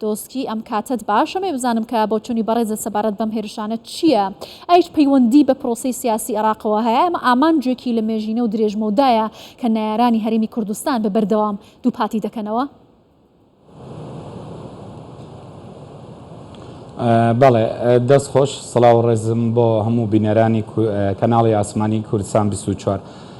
دۆسکی ئەم کاتەت باش ئەمەوێ بزانم کە بۆچونی بەڕێزت سەبارەت بەم هێرشانە چیە؟ ئایچ پەیوەندی بە پرۆسەی سیاسی ئێڕاقەوە هەیە؟ ئەمە ئامانجێکی لە مێژینە و درێژمەودایە کە نەیارانی هەرێمی کوردستان بە بەردەوام دووپاتی دەکەنەوە؟ بەڵێ دەست خۆش سڵاو و ڕێزم بۆ هەموو بینەرانی کەناڵی ئاسمانی کوردستان بیست و چوار.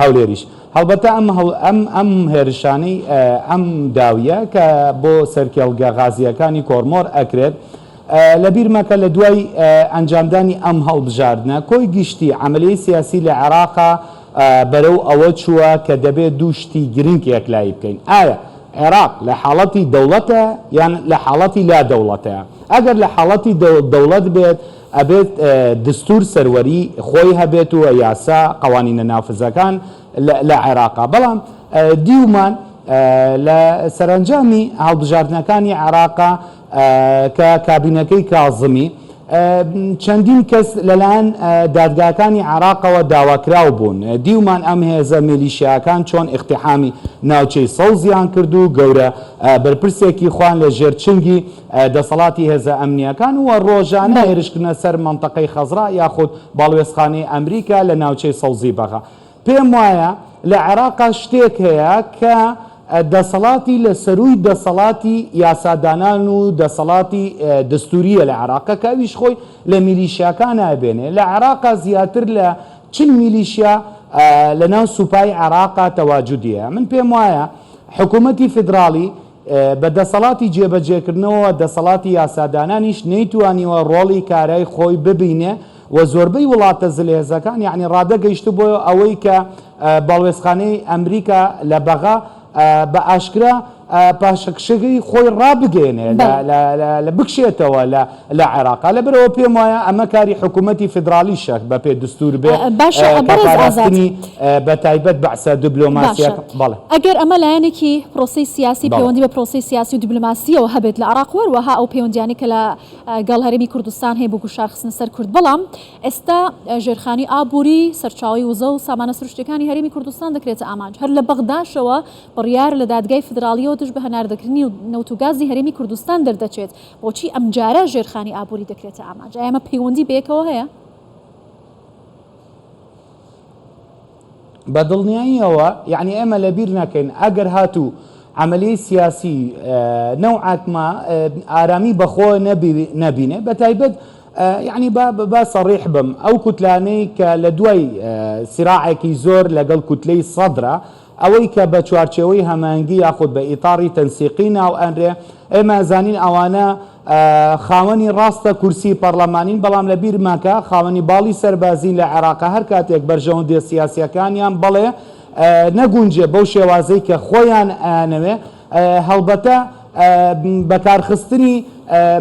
هەولێریش هەڵبەتە ئەم ئەم ئەم هێرشانەی ئەم داویە کە بۆ سەرکێڵگە غازییەکانی کۆرمۆر ئەکرێت لە بیر مەکە لە دوای ئەنجامدانی ئەم هەڵبژاردنە کۆی گشتی عملیی سیاسی لە عێراقا بەرەو ئەوە چووە کە دەبێت دوو شتی گرنگ یەکلایی بکەین ئایا عێراق لە حاڵەتی دەوڵەتە یان لە حاڵەتی لا دەوڵەتەیە ئەگەر لە حاڵەتی دەوڵەت بێت ئەبێت دستور سەروەری خۆی هەبێت و یاسا قەوانینە نافزەکان لە عێراقا بەڵام دیومان لە سەرەنجامی هەڵبژاردنەکانی عێراقا کە کابینەکەی کازمی چەندین کەس لەلایەن دادگاکانی عێراقەوە داواکراو بوون دیومان ئەم هێزە میلیشیاکان چۆن ئیقتیحامی ناوچەی سەوزیان کرد و گەورە بەرپرسێکی خۆیان لە ژێر چنگی دەسەڵاتی هێزە ئەمنییەکان و ڕۆژانە هێرشکردنە سەر مەنتەقەی خەزرا یاخود باڵوێزخانەی ئەمریکا لە ناوچەی سەوزی بەغا. پێم وایە لە عێراقا شتێک هەیە کە دەسەڵاتی لە سەرووی دەسەڵاتی یاسادانان و دەسەڵاتی دەستوورییە لە عێراقا کە ئەویش خۆی لە میلیشیاکانا ئەبێنێ. لە عێراقا زیاتر لە چل میلیشیا لە ناو سوپای عێراقا تەواجودی هەیە. من پێم وایە حکوومەتی فیدراڵی بە دەسەڵاتی جێبەجێکردنەوەوە دەسەڵاتی یاسادانانیش نەیتوانیوە ڕۆڵی کارای خۆی ببینێ و زۆربەی وڵاتە زلهێزەکان یەعنی ڕادە گەیشتبووە ئەوەی کە باڵوێزخانەی ئەمریکا لە بەغا بە ئاشکرا پاشەکشەی خۆی ڕابگەیەنێ لە بکشێتەوە لە لە عێراقا لە بەرئەوە پێم وایە ئەمە کاری حکوومەتی فیدراڵیشە بە پێ دستور بێ کەپاراستنی بە تایبەت بەعسە دبلۆماسیەکە بەڵێ ئەگەر ئەمە لایەنێکی پرۆسی سیاسی پەیوەندی بە پرۆسی سیاسی و دبلۆماسیەوە هەبێت لە عراق وەروەها ئەو پەیوەندیانی کە لە گەڵ هەرێمی کوردستان هەیە بۆ گوشارخستنە سەر کورد بەڵام ئێستا ژێرخانی ئابووری سەرچاوی وزە و سامانە سروشتەکانی هەرێمی کوردستان دەکرێتە ئامانج هەر لە بەغداشەوە بڕیار لە دادگای فدراالیەوە دژ بە هەناردەکردنی و نەوتوگازی هەرێمی کوردستان دەردەچێت بۆچی ئەمجارە ژێرخانی ئابووری دەکرێتە ئامانج؟ ئایا ئەمە پەیوەندی بەیەکەوە هەیە؟ بە دڵنیاییەوە، یەعنی ئێمە لە بیر نەکەین ئەگەر هاتوو عەمەلیەی سیاسی نەوعەک ما ئارامی بە خۆ نەبینێ بە تایبەت یعنی با با سەڕیح بم ئەو کوتلانەی کە لە دوای سراعێکی زۆر لەگەڵ کوتلەی سەدرا ئەوەی کە بە چوارچێوەی هەماهەنگی یاخود بە ئیتاڕی تەنسیقی ناو ئەنرێ، ئێمە ئەزانین ئەوانە خاوەنی ڕاستە کورسی پەڕلەمانین، بەڵام لە بیر مەکە خاوەنی باڵی سەربازین لە عێراق، هەر کاتێک بەرژەوەندیە سیاسیەکانیان بەڵێ نەگونجێ بەو شێوازەی کە خۆیان ئەیانەوێ، هەڵبەتە بە کارخستنی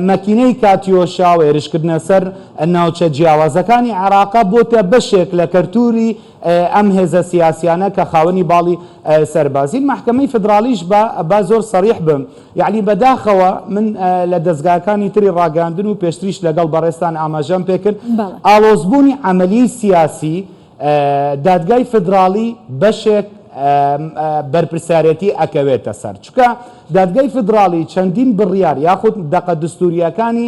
مەکینەی کاتیۆشا و هێرشکردنە سەر ناوچە جیاوازەکانی عێراق بۆتە بەشێک لە کەرتوری ئەم هێزە سیاسیانە کە خاوەنی باڵی سەربازین مەحکەمەی فدراڵیش با با زۆر سەڕیح بم یەعنی بەداخەوە من لە دەزگاکانی تری ڕاگەاندن و پێشتریش لەگەڵ بەڕێزتان ئاماژەم پێکرد ئاڵۆزبوونی عەمەلی سیاسی دادگای فدراڵی بەشێک بەرپرسیارێتی ئەکەوێتە سەر چکە دادگای فدراڵی چەندین بڕیار یاخود دەقە دستوریەکانی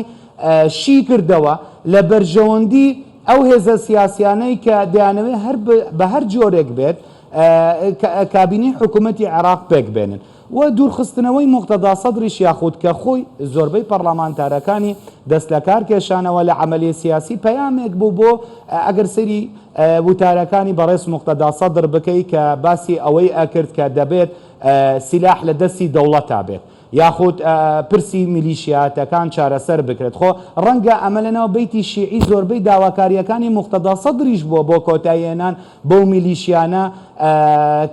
شی کردەوە لە بەرژەوەندی ئەو هێزە سیاسیانەی کە دەیانەوێت هەر بە هەر جۆرێک بێت کابینەی حکوومەتی عێراق پێک بێنن و دوورخستنەوەی موقتەدا سەدریش یاخود کە خۆی زۆربەی پەڕڵەمانتارەکانی دەست لە کار کێشانەوە لە عەمەلیە سیاسی پەیامێک بوو بۆ ئەگەر سەیری وتارەکانی بەڕێز موقتەدا سەدر بکەی کە باسی ئەوەی ئەکرد کە دەبێت سیلاح لە دەستی دەوڵەتا بێت. یاخود پرسی میلیشیاتەکان چارەسەر بکرێت، خۆ ڕەنگە ئەمە لەناو بەیتی شیعی زۆربەی داواکارییەکانی موقتەدا سەدریش بووە بۆ کۆتایی هێنان بەو میلیشیانە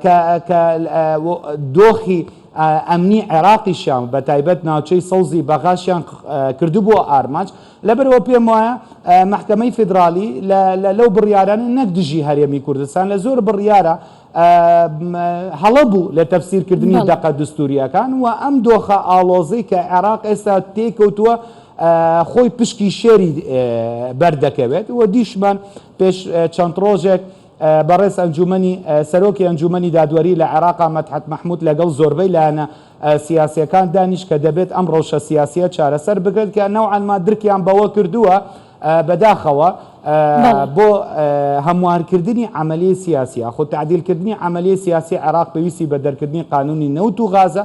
کە کە دۆخی ئەمنی عێراقیشیان بە تایبەت ناوچەی سەوزی بەغاشیان کردبووە ئارمانج، لەبەرئەوە پێموایە مەحکەمەی فیدراڵی لە لەو بڕیارانە نەک دژی هەرێمی کوردستان لە زۆر بڕیارە هەڵە بوو لە تەفسیر کردنی دەقە دستورییەکان و ئەم دۆخە ئاڵۆزەی کە عێراق ئێستا تێی کەوتووە خۆی پشکی شێری بەردەکەوێت و دیشمان پێش چەند ڕۆژێک بەڕێز ئەنجومنی سەرۆکی ئەنجومنی دادوەری لە عێراق مەتحەت مححمود لەگەڵ زۆربەی لایەنە سیاسەکان دانیش کە دەبێت ئەم ڕەوشە سیاسە چارەسەر بگرێت کە نەوانما درکیان بەوە کردووە بەداخەوە بۆ هەموارکردنی عەمەلی سیاسی یاخود تەعدیلکردنی عەمەلی سیاسی عێراق پێویستی بە دەرکردنی قانوونی نەوت و غازە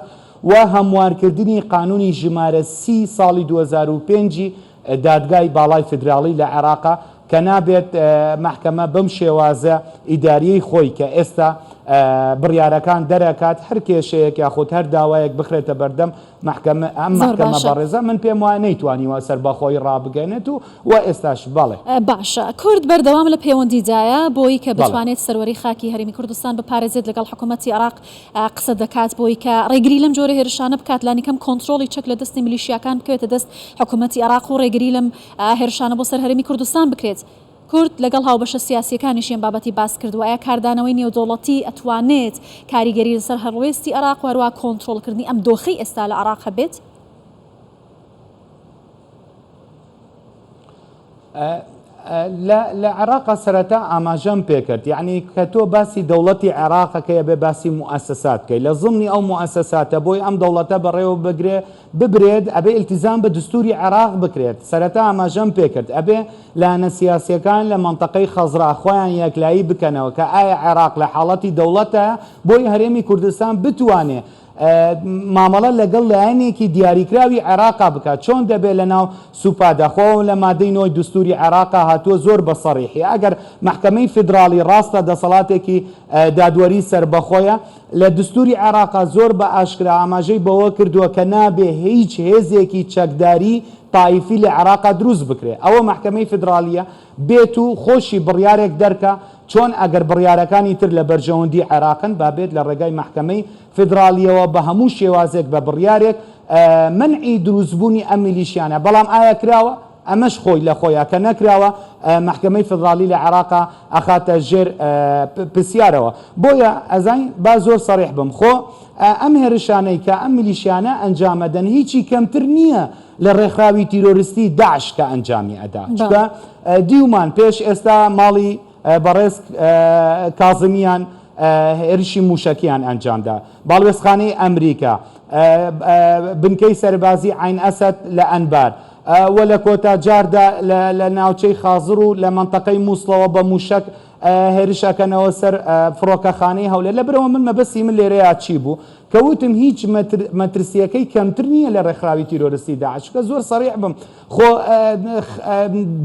و هەموارکردنی قانوونی ژمارە سی ساڵی دوو هەزار و پێنج ی دادگای باڵای فیدراڵی لە عێراقە کە نابێت مەحکەمە بەم شێوازە ئیدارییەی خۆی کە ئێستا بڕیارەکان دەرەکات هەر کێشەیەک یاخود هەر داوایەک بخرێتە بەردەم مەحکەمە، ئەم زۆر مەحکەمە باشە. بەڕێزە من پێم وایە نەیتوانیوە سەربەخۆیی ڕابگەنێت و و ئێستاش، بەڵێ. باشە. کورد بەردەوام لە پێوەندیدایە بۆی کە بەڵێ. بتوانێت سەروەری خاکی هەرێمی کوردستان بپارێزێت لەگەڵ حکوومەتی عێراق قسە دەکات بۆی کە ڕێگری لەم جۆرە هێرشانە بکات لانیکەم کۆنترۆڵی چەک لە دەستی ملیشیاکان بکەوێتە دەست حکوومەتی عێراق و ڕێگری لەم هێرشانە بۆ سەر هەرێمی کوردستان بکرێت. کورد لەگەڵ هاوبەشە سیاسییەکانیشی ئەم بابەتی باس کردووە، ئایا کاردانەوەی نێودەوڵەتی ئەتوانێت کاریگەری لەسەر هەڵوێستی عێراق و هەروەها کۆنترۆڵکردنی ئەم دۆخەی ئێستا لە عێراق هەبێت؟ لە عێراق سەرەتا ئاماژەم پێکرد، یەعنی کە تۆ باسی دەوڵەتی عێراق ئەکەی ئەبێ باسی موئەسەسات بکەی، لە زمنی ئەو موئەسەساتە بۆی ئەم دەوڵەتە بەڕێوە بگرێ، ببرێت ئەبێ ئیلتیزام بە دستوری عێراق بکرێت سەرەتا ئاماژەم پێکرد ئەبێ لایەنە سیاسیەکان لە مەنتەقەی خەزرا خۆیان یەکلایی بکەنەوە کە ئایا عێراق لە حاڵەتی دەوڵەتە بۆی هەرێمی کوردستان بتوانێ مامەڵە لەگەڵ لایەنێکی دیاریکراوی عێراقا بکات چۆن دەبێ لەناو سوپادا خۆ لە مادەی نۆی دستوری عێراقا هاتووە زۆر بە سەڕیحی ئەگەر مەحکەمەی فیدراڵی ڕاستە دەسەڵاتێکی دادوەری سەربەخۆیە لە دەستووری عێراقا زۆر بە ئاشکرا ئاماژەی بەوە کردووە کە نابێ هیچ هێزێکی چەکداری تایفی لە عێراقا دروست بکرێ. ئەوە مەحکەمەی فیدرالییە بێت و خۆشی بڕیارێک دەرکا، چۆن ئەگەر بڕیارەکانی تر لە بەرژەوەندی عێراقن با بێت لە ڕێگای مەحکەمەی فیدرالییەوە بە هەموو شێوازێک بە بڕیارێک مەنعی دروست بوونی ئەم میلیشیانە. بەڵام ئایا کراوە؟ ئەمەش خۆی لە خۆیا کە نەکراوە مەحکەمەی فیدراڵی لە عێراقا ئەخاتە ژێر پرسیارەوە بۆیە ئەزانی با زۆر سەڕیح بم خۆ ئەم هێرشانەی کە ئەم میلیشیانە ئەنجامەدەن هیچی کەمتر نییە لە ڕێکخراوی تیرۆرستی داعش کە ئەنجامی ئەدا چونکە دیومان پێش ئێستا ماڵی بەڕێز کازمیان هێرشی مووشەکیان ئەنجامدا. باڵوێزخانەی ئەمریکا، بنکەی سەربازی عەین ئەسەد لە ئەنبار و لە کۆتا جاردا لە ناوچەی خازر و لە مەنتەقەی مووسڵەوە بە مووشەک هێرش ئەکەنەوە سەر فڕۆکەخانەی هەولێر. لەبرەوە من مەبەستی من لێرەیا چی بوو؟ کە وتم هیچ مەترسییەکەی کەمتر نییە لە ڕێکخراوی تیرۆرستی داعش. چونکە زۆر سەریح بم. خۆ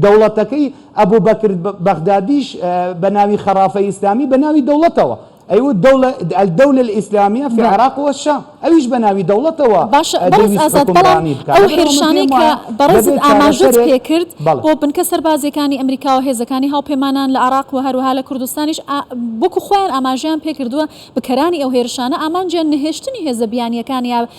دەوڵەتەکەی ئەبوبەکر بەغدادیش بە ناوی خەڕافەی ئیسلامی بە ناوی دەوڵەتەوە ئەیوت دەوڵە الدولە الاسلامیە فی العراق و الشام ئەویش بە ناوی دەوڵەتەوە باشە بەڕێز دەیویست ئازاد بەڵام حوکمڕانی بکات ئەو لەبەرئەوە من هێرشانەی پێم کە وایە بەڕێزت دەبێت ئاماژەت چارەسەرێک پێکرد بەڵێ بۆ بنکە سەربازیەکانی ئەمریکا و هێزەکانی هاوپەیمانان لە عراق و هەروەها لە کوردستانیش ئا وەکو خۆیان ئاماژەیان پێکردوە بکەرانی ئەو هێرشانە ئامانجیان نەهێشتنی هێزە بیانیەکانیە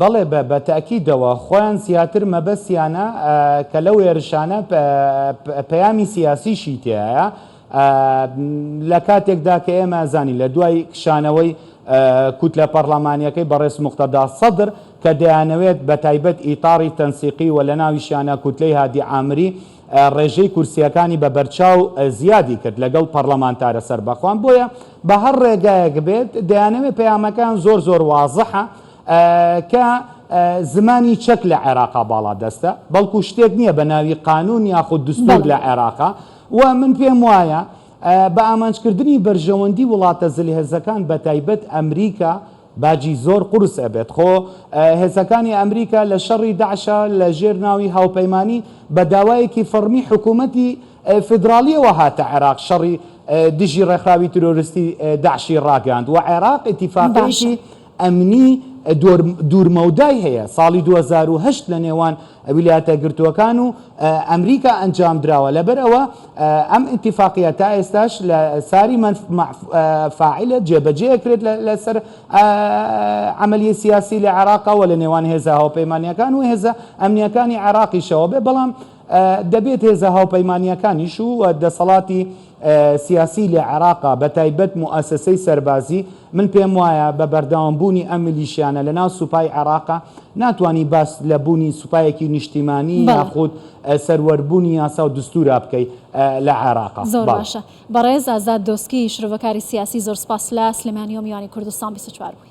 بەڵێ بە بە تەئکیدەوە خۆیان زیاتر مەبەستیانە کە لەو هێرشانە پەیامی سیاسیشی تێایە لە کاتێکدا کە ئێمە زانی لە دوای کشانەوەی کوتلە پەرلەمانیەکەی بەڕێز مختدا سەدر کە دەیانەوێت بە تایبەت ئیتاڕی تەنسیقی و لە ناویشیانە کوتلەی هادی ئامری ڕێژەی کورسییەکانی بە بەرچاو زیادی کرد لەگەڵ پەڕڵەمانتارە سەربەخۆان، بۆیە بە هەڕ ڕێگایەک بێت دەیانەوێت پەیامەکەیان زۆر زۆر وازحە کە زمانی چەک لە عێراقا باڵا دەستە، بەڵکو شتێک نییە بە ناوی قانوون یاخود دستوور لە عێراقا و من پێم وایە بە ئامانج کردنی بەرژەوەندی وڵاتە زلهێزەکان بە تایبەت ئەمریکا باجی زۆر قورس ئەبێت خۆ هێزەکانی ئەمریکا لە شەڕی داعشا لە ژێر ناوی هاوپەیمانی بە داوایەکی فەڕمی حکوومەتی فیدراڵیەوە هاتە عێراق شەڕی دژی ڕێکخراوی ترۆرستی داعشی ڕاگەیاند و عێراق ئیتیفاقێکی ئەمنی دوورمەودای هەیە ساڵی 2010 لە نێوان ویلایەتەگرتووەکان و ئەمریکا ئەنجامدراوە، لەبەرئەوە ئەم ئیتیفاقییە تا ئێستاش لە ساری من فاعل جێبەجێ ئەکرێت لەسەر عەمەلیی سیاسی لە عێراق و لە نێوان هێزە هاوپەیمانییەکان و هێزە ئەمنییەکانی عێراقیشەوە بێ، بەڵام دەبێت هێزە هاوپەیمانییەکانیش و دەسەڵاتی سیاسی لە عێراق بەتایبەت موئەسەسەی سەربازی، من پێم وایە بە بەردەوام بوونی ئەم میلیشیانە لە ناو سوپای عێراقا ناتوانی باس لە بوونی سوپایەکی نیشتیمانی بەڵێ. یاخود سەروەر بوونی یاسا و دستورا بکەی لە عێراقا. زۆر بەڵێ. باشە. بەڕێز ئازاد دۆسکی، شرۆڤەکاری سیاسی زۆر سپاس لە سلێمانیەوە میوانی کوردستان بیست و چوار بووی.